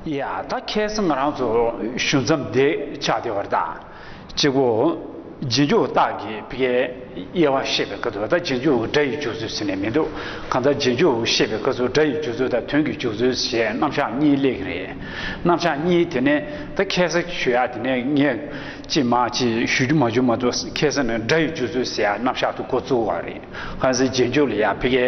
ཡ། ད་ཁྱེད་སུ་ང་རང་ཚོ་ཞུ་མཚམས་འདི་ཆགས་བདེ་བར་དང། གཅིག་པུ། རྗེས་འཇུག་སྟག་གི་བི་གའི་དབྱེ་བ་བཤད་པའི་སྐབས་དུ་ད་རྗེས་འཇུག་སྒྲ་ཡི་འཇུག་ཚུལ་ཟེར་ནས་མི་འདུག་གང་ལྟར་རྗེས་འཇུག་བཤད་པའི་སྐབས་སུ་སྒྲ་ཡི་འཇུག་ཚུལ་དང་དོན་གྱི་འཇུག་ཚུལ་ཞེས་རྣམ་གཞག་གཉིས་གླེགས་ཀྱི་རེད། རྣམ་གཞག་གཉིས་དེ་ནི་ད་ཁྱེད་སུ་ཞུ་ཡག་དེ་ནས་ངས་ཅི་མ་ཅི་ཞུ་རྒྱུ་མ་བྱུང་མ་གཏོགས་ཁྱེད་སུ་ནི་སྒྲ་ཡི་འཇུག་ཚུལ་ཟེར་ཡག་རྣམ་གཞག་ཏུ་གོ་བཙུགས་བ་རེད། གལ་སྲིད་རྗེས་འཇུག་ལ་ཡང་བི་གའི།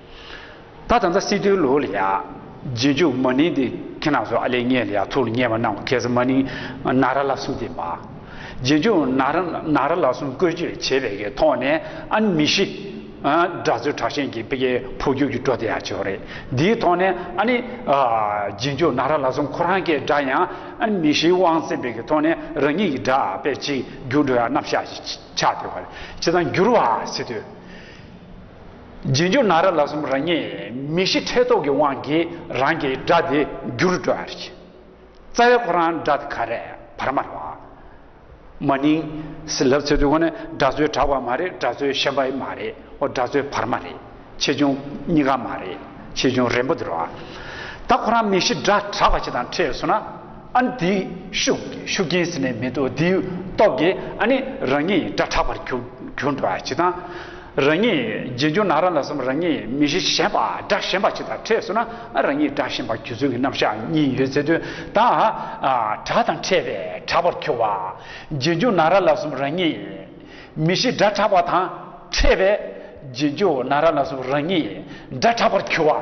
ད་ད་ད་སི་ཏུའི་ལོ་ལ་ཡ། རྗེས་འཇུག་མ་ནིང་དེ་ཁྱེད་རྣམས་སུ་ཨ་ལས་ངས་ལ་ཡ་ཐུགས་ལ་ངེས་པ་གནང་གོ་གལ་སྲིད་མ་ནིང་ན་ར་ལ་གསུམ་དེ་མ། རྗེས་འཇུག་ན་ར་ན་ར་ལ་གསུམ་བཀོལ་སྤྱོད་བྱེད་པའི་གི་ཐོག་ནས་ཨ་ནི་མི་ཤི། སྒྲ་རྩོལ་དྲག་ཞན་གྱི་པི་ཀའི་འཕོ་འགྱུར་གྱི་འགྲོ་དེ་ཡང་བྱེད་རེད་འདིའི་ཐོག་ནས་ཨ་ནི། རྗེས་འཇུག་ན་ར་ལ་གསུམ་ཁོ་རང་གི་སྒྲ་ཡང་ཨ་ནི་མི་ཤིའི་དབང་བཙན་པའི་གི་ཐོག་ནས་རང་ཉིད་ཀྱི་སྒྲ་པས་གཅིག་འགྱུར་འགྲོ་ཡང་རྣམ་གཞག་ཅིག་ཆགས་དེ་བ་རེད་ཅི་ལྟར་འགྱུར་བ་སི་ཏུའི། རྗེས་འཇུག་ན་ར་ལ་གསུམ་རང་ཉིད་མི་ཤི་ཁྲེལ་དོགས་ཀྱི་དབང་གིས་རང་གི་སྒྲ་དེ་འགྱུར་སྤྲོ་བར་བྱེད། རྩ་བའི་ཁོ་རང་སྒྲ་དེ་ག་རེད་བར་སྨྲ་བ། མ་ནིང། སི་ལབ་ཚད་དུས་ཁོ་ནི་སྒྲ་རྩོལ་དྲག་པ་མ་རེད་སྒྲ་རྩོལ་ཞན་པ་ཡི་མ་རེད་ཨོ་སྒྲ་རྩོལ་བར་མ་རེད་ཆེ་ཆུང་གཉིས་ཀ་མ་རེད་ཆེ་ཆུང་རན་པོ་འདིར་བ། ད་ཁོ་རང་མི་ཤི་སྒྲ་དྲག་པ་ཞིག་དང་ཕྲད་སོང་ན་ཨ་ནི་དེའི་ཤུགས་ཤུགས་རྐྱེན་ཟིན་ནས་མི་འདུག་དེའི་སྟོབས་ཀྱིས་ཨ་ནི་རང་ཉིད་སྒྲ་དྲག་པར་གྱུར་འགྲོ་བ་བྱེད་དང། རང་ཉིད་རྗེས་འཇུག་ན་རང་ལ་བསམ་རང་ཉིད་མི་གཞི་ཞེན་པ་དགྲ་ཞེན་པ་ཅིག་དང་འཕྲད་སོང་ན་རང་ཉིད་དགྲ་ཞེན་པ་རྒྱུ་མཚོན་གྱི་རྣམ་གཞག་གཉིས་ཡོད་ཚད་དོན་དང་དགྲ་དང་འཕྲད་པས་དྲག་པར་གྱུར་བ། རྗེས་འཇུག་ན་རང་ལ་བསམ་རང་ཉིད་མི་གཞི་དགྲ་དྲག་པ་དང་འཕྲད་པས་རྗེས་འཇུག་ན་རང་ལ་བསམ་རང་ཉིད་དགྲ་དྲག་པར་གྱུར་བ།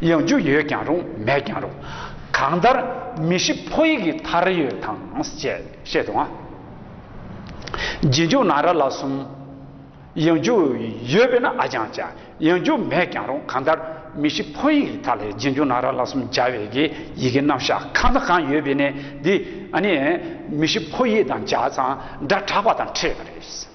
ཡང་རྒྱུ་ཡོད་ཀྱང་རུང་མེད་ཀྱང་རུང། གང་ལྟར་མི་ཤི་ཕོ་ཡིག་གི་མཐར་ཡོད་དང་བཅས་བཤད་འདུག་ང། རྗེས་འཇུག་ན་ར་ལ་གསུམ། ཡང་རྒྱུ་ཡོད་དཔེར་ན་ཨ་ཀྱང་བྱ། ཡང་རྒྱུ་མེད་ཀྱང་རུང་གང་ལྟར་མི་ཤི་ཕོ་ཡིག་གི་མཐར་ལས་རྗེས་འཇུག་ན་ར་ལ་གསུམ་སྦྱར་བའི་གི་ཡི་གེ་རྣམ་གཞག་གང་དང་གང་ཡོད་པས་ནི་འདི་ནི་མི་ཤི་ཕོ་ཡིག་དང་སྦྱར་ཙང་སྒྲ་གྲགས་པ་དང་འཕྲད་པ་རེད།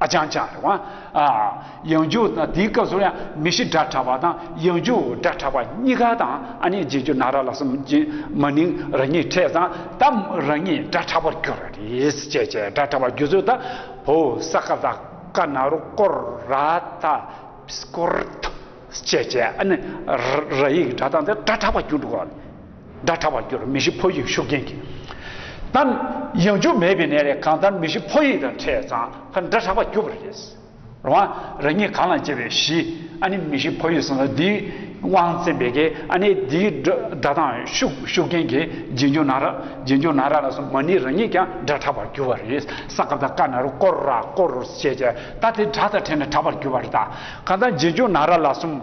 ཨ་ཅང་ཅང་རེད། ཡང་འཇུག་དང་དེའི་སྐབས་སུ་ཡང་མི་ཤི་སྒྲ་གྲགས་པ་དང་ཡང་འཇུག་སྒྲ་གྲགས་པ་གཉིས་ཀ་དང་ཨ་ནི་རྗེས་འཇུག་ན་ར་ལ་སོམ་ཅི་མ་ནིང་རང་ཉིད་འཕྲད་ཙང་ད་རང་ཉིད་སྒྲ་གྲགས་པར་གྱུར་རེད་ཅེས་བྱས་སྒྲ་གྲགས་པ་རྒྱུ་ཚོད་ད་བོ་ས་ཀ་ད་ཀ་ན་རོ་ཀོ་ར་ད་སྐོར་ད་ཅེས་བྱས་ཨ་ནི་ར་ཡིག་སྒྲ་གདངས་དེ་སྒྲ་གྲགས་པར་གྱུར་འགྲོ་ག་རེད། སྒྲ་དྲག་པར་གྱུར་མི་ཤི་ཕོ་ཡིག་ཤུགས་ལྡན་གྱིས་བཏབ། ཡང་འཇུག་མེད་པའི་ནད་རེ་གང་ལྟར་མི་ཤི་ཕོ་ཡིག་དང་འཕྲད་ཙང་ཕར་སྒྲ་དྲག་པར་གྱུར་པ་རེད། རང་དབང་རང་ཉིད་གང་ལ་བརྗེ་བའི་གཞི་ཨ་ནི་མི་ཤི་ཕོ་ཡིག་གསུངས་ལ་འདིའི་དབང་བཙན་པའི་གེ་ཨ་ནི་འདིའི་སྒྲ་དང་ཤུགས་ཤུགས་རྐྱེན་གྱིས་རྗེས་འཇུག་ན་ར་རྗེས་འཇུག་ན་ར་ལ་སོགས་མ་ནི་རང་ཉིད་ཀྱང་སྒྲ་དྲག་པར་གྱུར་བ་རེད་ས་སྐབས་དང་ཀ་ན་རུ་ཀོ་ར་ཀོ་རུ་ཞེས་བྱ་སྟ་དེ་སྒྲ་དང་ཕྲད་ན་དྲག་པར་གྱུར་བ་རེད་ད་གང་ལྟར་རྗེས་འཇུག་ན་ར་ལ་སོམས།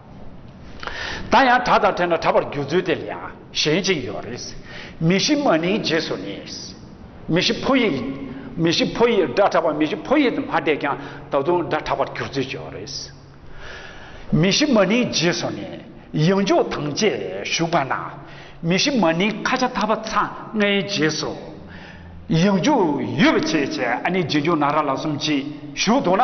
ད་ཡང་གྲགས་དང་ཕྲད་ན་གྲགས་པར་འགྱུར་ཚུལ་དེ་ལ་ཡང་གཞན་ཅིག་ཡོད་རེད། མི་གཤིས་མ་ནིང་རྗེས་སུ་ནི། མི་གཤིས་ཕོ་ཡིག། མི་གཤིས་ཕོ་ཡིག་སྒྲ་གྲགས་པ་མི་གཤིས་ཕོ་ཡིག་ཏུ་མ་བསྡད་ཀྱང་ད་དུང་སྒྲ་གྲགས་པར་འགྱུར་ཚུལ་ཅིག་ཡོད་རེད། མི་གཤིས་མ་ནིང་རྗེས་སུ་ནི། ཡང་འཇུག་དང་བཅས་ཞུགས་པ་ན། མི་གཤིས་མ་ནིང་ཁ་ཆ་ཐ་བ་ཚ་ལྔའི་རྗེས་སུ། ཡང་འཇུག་ཡོད་བྱས་བྱས་ཨ་ནི་རྗེས་འཇུག་ན་ར་ལ་གསུམ་གྱིས་ཞུགས་འདུག་ན།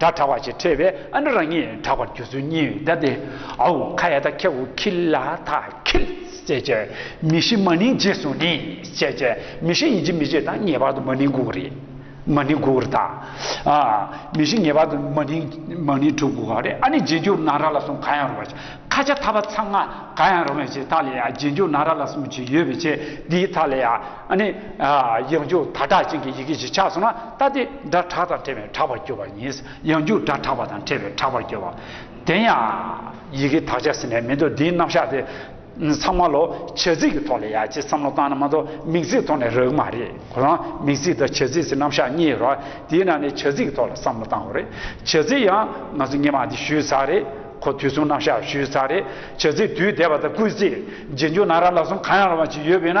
སྒྲ་གྲགས་པ་ཞེས་ཁྲེལ་བས་ཨ་འདྲ་རང་ཉིད་གྲགས་པར་གྱུར་ཚུལ་གཉིས་བཟླས་ཏེ། ཨའུ་ཁ་ཡ་ཐ་ཁྱེ་ཨུ་ཁི་ལ་ཐ་ཁིལ། ཅེས་བྱ་བའི་མི་ཤི་མ་ནིང་རྗེས་སུ་ནི། ཅེས་བྱ་བའི་མི་ཤི་ཡིན་གཅིག་མི་རྗེས་དང་ངེས་པར་དུ་མ་ནིང་དགུ་རེ། མ་ནིང་དགུ་རེ་དང། མི་ཤི་ངེས་པར་དུ་མ་ནིང་མ་ནིང་དྲུག་དགུ་ག་རེ་ཨ་ནི་རྗེས་འཇུག་ན་ར་ལ་སོང་ག་ཡང་རུང་བར་བྱེད་ཁ་ཆ་ཐ་བ་ཚ་ང་ག་ཡང་རུང་བའི་ཆེད་ཐ་ལ་ཡ་རྗེས་འཇུག་ན་ར་ལ་སོང་བྱེད་ཡོད་པའི་ཆེད་འདིའི་ཐ་ལ་ཡ། ཨ་ནི། ཡང་འཇུག་ད་དྲག་ཅན་གྱི་ཡི་གེ་བཞི་ཆགས་སོང་ན་ལྟ་སྟེ་སྒྲ་གྲགས་དང་བྲལ་བས་དྲག་པར་འགྱུར་བ་ཡིན། ཡང་འཇུག་སྒྲ་གྲགས་པ་དང་བྲལ་བས་དྲག་པར་འགྱུར་བ། དེ་ཡང། ཡི་གེ་དག་ཆ་ཟེར་ནས་མི་འདུག་འདིའི་རྣམ་གཞག་དེ། ཚང་མ་ལོ་བྱེད་ཚིག་གི་ཐོག་ལ་ཡ་ཅེས་བསམ་བློ་བཏང་ན་མ་གཏོགས་མིང་ཚིག་ཐོག་ནས་རག་གི་མ་རེད་གོ་རང་མིང་ཚིག་དང་བྱེད་ཚིག་ཟེར་རྣམ་གཞག་གཉིས་ཡོད་རོགས་དེའི་ནང་ནས་བྱེད་ཚིག་གི་ཐོག་ལ་བསམ་བློ་བཏང་བ་རེད་བྱེད་ཚིག་ཡང་ང་ཚོ་སྙན་མ་དེ་ཞུས་ཚར་རེད་གོ་དུས་གསུམ་རྣམ་གཞག་ཞུས་ཚར་རེད་བྱེད་ཚིག་དུས་འདས་པ་དང་སྐུལ་ཚིག་རྗེས་འཇུག་ན་ར་ལ་གསུམ་གང་ཡང་རུང་བ་ཅིག་ཡོད་པས་ན།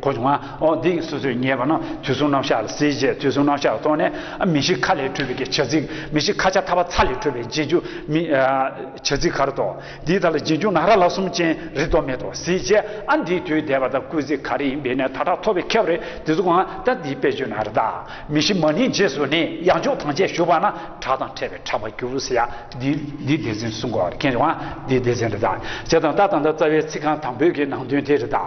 གོ་བྱུང་ང། འོ་འདི་སོ་སོས་ངེས་པ་ན་དུས་གསུམ་རྣམ་གཞག་ལ་གཟིགས་རྗེས་དུས་གསུམ་རྣམ་གཞག་གི་ཐོག་ནས། མི་ཤིག་ཁ་ལས་འཕྲོས་པའི་ཀྱི་བྱ་ཚིག། མི་ཤིག་ཁ་ཆ་ཐ་བ་ཚ་ལས་འཕྲོས་པའི་རྗེས་འཇུག་མི། བྱ་ཚིག་གར་དོ། འདིའི་དག་ལ་རྗེས་འཇུག་ན་ར་ལ་གསུམ་ཅན་རེ་དོགས་མེད་དོ་གཟིགས་རྗེས་ཨ་འདིའི་དུས་འདས་པ་དང་སྐུལ་ཚིག་ག་རེ་ཡིན་པས་ནས་ཐ་དག་ཐོབ་པའི་ཁེབས་རེ་དེ་ཚོ་གང་ད་འདིའི་དཔེ་བརྗོད་ན་ར་དག་མི་ཤིག་མ་ནིའི་རྗེས་སུ་ནས་ཡང་འཇུག་ཐང་ཆད་ཞུགས་པ་ན་གྲགས་དང་ཕྲད་པའི་ཕྲ་བ་འགྱུར་བས་ཡ། འདིའི་འདིའི་སྡེ་ཚན་གསུམ་གོ་ར་ཁེངས་བྱུང་ང་འདིའི་སྡེ་ཚན་རེ་དག་བྱེད་དང་ད་དང་ད་རྩ་བའི་ཚིག་རྐང་དང་པོའི་གི་ནང་དོན་དེ་རེ་དག།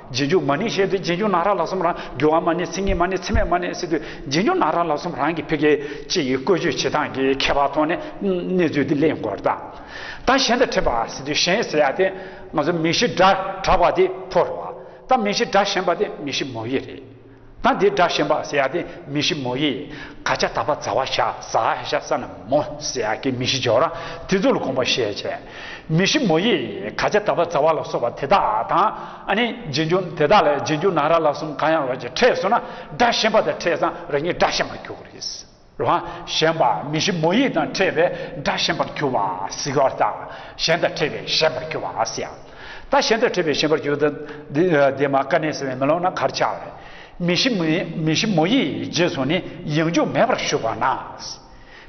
རྗེས་འཇུག་མ་ནི་ཞེས་ཏེ་རྗེས་འཇུག་ན་ར་ལ་སོམ་རང་རྒྱུ་བ་མ་ནི་ཚིག་ངན་མ་ནི་ཚིག་མེད་མ་ནི་སི་ཏུ་རྗེས་འཇུག་ན་ར་ལ་སོམ་རང་གི་ཕི་གའི་སྤྱི་ཡི་བཀོད་བྱུས་བྱེད་སྟངས་ཀྱི་ཁྱད་པར་ཐོག་ནས་གནས་ཚུལ་འདི་གླེང་དགོས་རྟགས་ད་གཞན་དང་འཕྲད་པ་སི་ཏུ་གཞན་ཟེར་ཡག་སྟེ་ང་ཚོ་མི་གཞི་སྒྲ་གྲགས་པ་དེ་ཕོ་རུ་བ་ད་མི་གཞི་སྒྲ་ཞན་པ་དེ་མི་གཞི་མོ་ཡི་རེད། ད་འདི་སྒྲ་ཞན་པ་ཟེར་ཡག་དེ་མི་ཤི་མོ་ཡིས་ག་ཆ་ད་པ་ཛ་བ་ཤ་ཟ་ཧེ་ཤ་ས་ན་མོ་ཟེར་ཡག་གི་མི་ཤི་ཇོ་ར་དེ་ཚོ་ལ་དགོངས་པ་བཞེས་བྱས་མི་ཤི་མོ་ཡིས་ག་ཆ་ད་པ་ཛ་བ་ལ་སོགས་པ་དེ་དག་དང་ཨ་ནི་རྗེས་འཇུག་དེ་དག་ལས་རྗེས་འཇུག་ནང་ར་ལ་གསུམ་གང་ཡང་རོ་གཅིག་ཕྲད་སོང་ན་སྒྲ་ཞན་པ་དང་ཕྲད་ཙང་ར་གཉིས་སྒྲ་ཞན་པར་འགྱུར་གི་རེད། ལ་ཞེན་པ་མི་ཞིབ་མོ་ཡིད་དང་ཕྲད་པའི་སྒྲ་ཞེན་པར་གྱུར་པ་སིག་ཧར་ད་ཞེན་དང་ཕྲད་པའི་ཞེན་པར་གྱུར་པ་སི་ཧར་ད་ཞེན་དང་ཕྲད་པའི་ཞེན་པར་གྱུར་ཏོ། དེ་མ་ཀ་ནས་ཟེར་བས་མི་ལོག་ན་གར་ཆག་ལས། མི་ཞིབ་མི་ཞིབ་མོ་ཡིས་རྗེས་སུ་ནི་ཡང་འཇུག་མེད་པར་ཞུགས་པ་ན།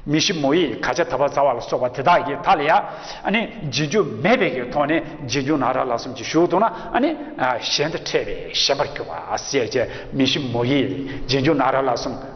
མི་ཞིབ་མོ་ཡིས་ག་ཆ་ད་བ་ཛ་བ་ལ་སོགས་པ་དེ་དག་གི་ད་ལ་ཡ། ནི་རྗེས་འཇུག་མེད་པའི་གི་ཐོག་ནས་རྗེས་འཇུག་ན་ར་ལ་གསུམ་གྱིས་ཞུགས་ཏོ་ན་ནི། ཞེན་དང་ཕྲད་པའི་ཞེན་པར་གྱུར་པ་སི་ཧར་ཅན་མི་ཞིབ་མོ་ཡིས་རྗེས་འཇུག་ན་ར་ལ་གསུམ།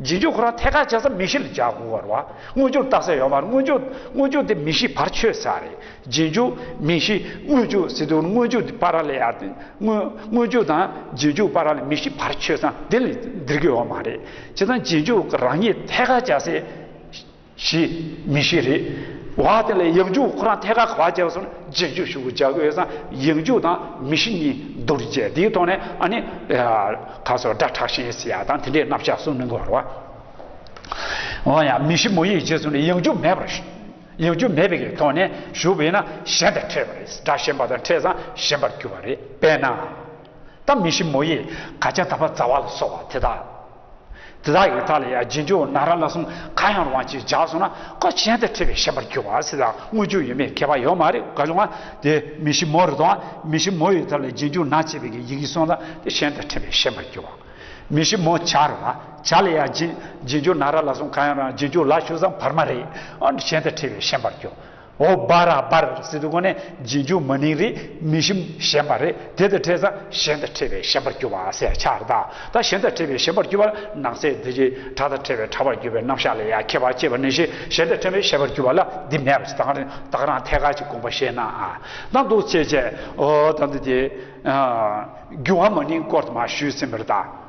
རྗེས་འཇུག་ཁོ་རང་ཐད་ཀར་བྱས་ཙང་མིག་ཤེས་ལ་འཇགས་དགོས་བར་བ་དངོས་འཇུག་བཏགས་ས་ཡོད་མར་དངོས་འཇུག་དངོས་འཇུག་དེ་མིག་ཤེས་བར་ཆོད་ས་རེད་རྗེས་འཇུག་མིག་ཤེས་དངོས་འཇུག་སི་ཏུ་དངོས་འཇུག་དེ་པར་ལེ་ཡར་དེ་དངོས་དངོས་འཇུག་དང་རྗེས་འཇུག་པར་ལེ་མིག་ཤེས་བར་ཆོད་ཙང་དེ་ལ་འདིར་དགོས་བ་མ་རེད་བྱས་ཙང་རྗེས་འཇུག་རང་ཉིད་ཐད་ཀར་བྱས་ཚེ། བཞི། མི་ཤི་རེ་བ་དེ་ལ་ཡིག་རྒྱུགས་ཁོ་རང་ཐད་ཀར་ག་བ་བྱས་སོང་རྗེས་འཇུག་ཞུ་དགོས་བྱ་དགོས་སམ་ཡིག་རྒྱུགས་དང་མི་ཤི་གཉིས་བསྡུར་རྗེས་དེའི་ཐོག་ནས་ཨ་ནི། ཁ་སོ་སྒྲ་དྲག་ཤིང་སི་ཡ་དང་དེ་འདྲའི་རྣམ་གཞག་གསུངས་མི་དགོས་བར། འོན་ཡང་མི་ཤི་མོ་ཡིག་རྗེས་སུ་ནས་ཡིག་རྒྱུགས་མེད་པར། ཡིག་རྒྱུགས་མེད་པའི་ཐོག་ནས་ཞུ་བས་ན་གཞན་དང་འཕྲད་པ་རེད་སྒྲ་གཞན་པ་དང་འཕྲད་སའང་གཞན་པར་གྱུར་བ་རེད་པས་ན། ད་མི་ཤི་མོ་ཡིག་ག་བྱ་ད་པ་ཛ་བ་ལ་སོགས་བ་དེ་དག། དེ་དག་གིས་དག་ལ་ཡང་རྗེས་འཇུག་ན་ར་ལ་གསུམ་ག་ཡང་རུང་བ་གཅིག་བཞག་སོང་ན་ཁོ་གཞན་དུ་ཁྲིད་པའི་ཤེས་པར་གྱུར་བ་སྲིད་ལ་དངོས་འཇུག་ཡོད་མེད་ཁྱད་པར་ཡོད་མ་རེད་ག་བྱུང་ང་དེ་མི་ཞིབ་མོ་རེ་དང་མི་ཞིབ་མོ་ཡི་ཐབས་ལ་རྗེས་འཇུག་ན་བྱས་པའི་གི་ཡི་གིས་སོང་ལ་དེ་གཞན་དུ་ཁྲིད་པའི་ཤེས་པར་གྱུར་བ། མི་ཞིབ་མོ་བྱ་རུང་བ་བྱ་ལ་ཡང་རྗེས་འཇུག་ན་ར་ལ་གསུམ་ག་ཡང་རུང་བ་རྗེས་འཇུག་ལ་ཞུགས་སམ་བར་མ་རེད་ཨང་གཞན་དུ་ཁྲིད་པའི་ཤེས་པར་གྱུར་ཨོ་སྦ་ར་པར་སི་ཏུ་ཁོ་ནས་རྗེས་འཇུག་མ་ནིང་རིགས་མི་ཞིམ་གཞན་པ་རེ་དེ་དང་འཕྲད་ས་གཞན་དང་འཕྲད་པའི་ཞན་པར་གྱུར་པ་སའི་ཆ་ར་ད་གཞན་དང་འཕྲད་པའི་ཞན་པར་གྱུར་པ་ལ་ནང་སའི་དེ་རྗེས་གྲ་དང་འཕྲད་པའི་གྲ་བར་གྱུར་པའི་རྣམ་གཞག་ལས་ཡ་ཁྱད་པར་ཅེས་པ་ནས་ཞེས་གཞན་དང་འཕྲད་པའི་ཞན་པར་གྱུར་པ་ལ་འདི་མེད་པ་ཅི་དང་རིང་བདག་རང་ཐད་ཀར་གྱི་དགོངས་པ་བཤད་ན་ཨ་དང་འདུག་ཚེ་བཅད་ཨོ་དང་འདུག་དེ། རྒྱུ་བ་མ་ནིང་སྐོར་དུ་མ་ཞུས་ཟིན་པར་ད།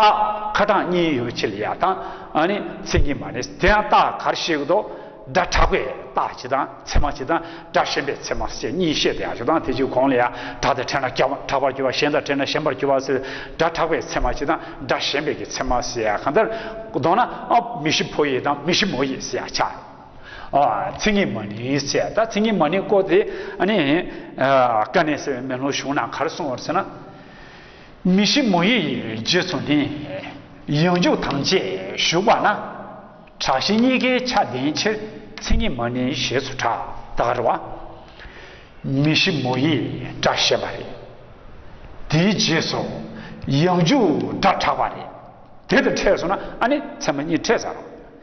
རྟགས་ཁ་གྲངས་གཉིས་ཡོད་ཕྱིར་ཡ་དང་ཨ་ནི་མཚན་ཉིད་མ་ནི་དེ་ཡང་རྟགས་གར་བཤད་ཀྱི་དོག་སྒྲ་གྲགས་པའི་རྟགས་ཅི་དང་ཚད་མ་ཅི་དང་སྒྲ་ཞེན་པའི་ཚད་མ་བཅས་གཉིས་བཤད་དེ་ཡང་ཞོ་དང་དེ་བཅུ་གོང་ལ་ཡང་གྲགས་ཏེ་ཕྲད་ན་གྲགས་པར་གྱུར་པ་ཞེན་དང་ཕྲད་ན་ཞེན་པར་གྱུར་པ་སེལ་སྒྲ་གྲགས་པའི་ཚད་མ་ཅི་དང་སྒྲ་ཞེན་པའི་ཀྱི་ཚད་མ་སེལ་ཡ་གང་ལྟར་དོགས་ན་མི་ཤི་ཕོ་ཡིས་དང་མི་ཤི་མོ་ཡིས་སེལ་ཡ་ཆགས་ཨ་མཚན་ཉིད་མ་ནི་ཚད་ད་མཚན་ཉིད་མ་ནི་བཀོད་དེ་ཨ་ནི་ཀ་ནས་སེལ་བའི་མེ་ལོང་བྱུང་ན་གར་སོང་བར་ཟེར་ན། མི་ཤི་མོ་ཡི་རྗེས་སུ་ནི། ཡང་འཇུག་དང་བཅས་ཞུགས་པ་ན། དྲག་བཞི་གཉིས་ཀའི་ཆ་ལྡན་ཕྱིར་མཚན་ཉིད་མ་ནི་ཞེས་སུ་གྲགས་དཀར་བ། མི་ཤི་མོ་ཡི་སྒྲ་བཤད་པ་རེད། དེའི་རྗེས་སུ་ཡང་འཇུག་སྒྲ་གྲགས་པ་རེད། དེ་དང་ཕྲད་སོང་ན་ཨ་ནི་ཚད་མ་གཉིས་ཕྲད་ཟ་རོ།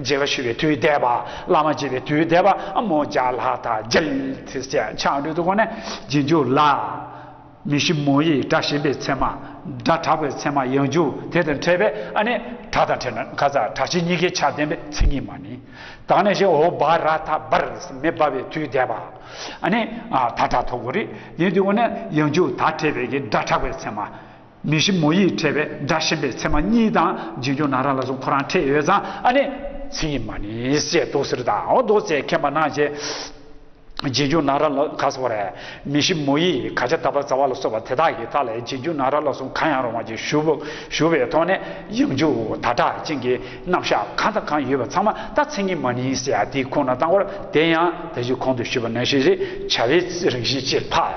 རྗེ་ལ་ཞུ་བའི་དུས་བཟླས་པ། བླ་མ་བྱེད་པའི་དུས་བཟླས་པ། མོ་བརྒྱ་ལྷག་དག་རྒྱལ། ཚེས་བཅད་ཆ་འགྲོས་དུ་བསྒོ་ནས་རྗེས་འཇུག་ལ། མི་ཤི་མོ་ཡི་སྒྲ་ཞེན་པའི་མཚན་མ། སྒྲ་གྲགས་པའི་མཚན་མ་ཡང་འཇུག་དེ་དང་ཕྲད་པས་ཨ་ནི། གྲགས་དང་ཕྲད་ན་ཁ་ཚ་གྲགས་ཆེ་གཉིས་ཀའི་ཆ་ལྡན་པའི་མཚན་ཉིད་མ་ནི། དང་ནས་ཤི་ཨོ་བྷ་ར་ཐ་བར་མེ་སྦར་བའི་དུས་བཟླས་པ། ཨ་ནི། ད་གྲགས་ཐོག་གོ་རི་ཡིན་དུ་བསྒོ་ནས་ཡང་འཇུག་ད་ཕྲད་པས་ཀྱི་སྒྲ་གྲགས་པའི་མཚན་མ། མི་ཞིག་མོ་ཡིས་ཁྲེལ་བས་སྒྲ་བཤད་པའི་ཚེ་མ་གཉིས་དང་རྗེས་འཇུག་ན་ར་ལ་གཟུགས་ཁོ་རང་ཁྲེལ་ཡོད་ཙང་ཨ་ནེ་ཚེ་ཡིས་མ་ནི་ཞེས་དུག་སེར་དང་འོ་དོགས་བཅས་ཁས་མ་གནང་རྗེས། རྗེས་འཇུག་ན་ར་ལ་ག་ས་བ་རེད། མི་ཞིག་མོ་ཡིས་ག་ཅ་ད་པ་ཛ་བ་ལ་སོགས་པ་དེ་དག་གི་ཐག་ལས་རྗེས་འཇུག་ན་ར་ལ་གཟུགས་གང་ཡང་རུང་བ་ཅིག་ཞུ་ཞུ་བའི་ཐོག་ནས་ཡང་འཇུག་ད་དྲག་ཅན་གྱི་རྣམ་གཞག་གང་དང་གང་ཡོད་པ་ཚང་མ་ད་ཚེ་གཉིས་མ་ནི་ཞེས་ཨ་ཏིའི་ཁུངས་ན་བཏང་བར་དེ་ཡང་དེ་བཞིན་གོང་དུ་ཞུས་པ་ནང་བཞིན་རེད་བྱ་བའི་རང་བཞིན་ཅེས་འཕགས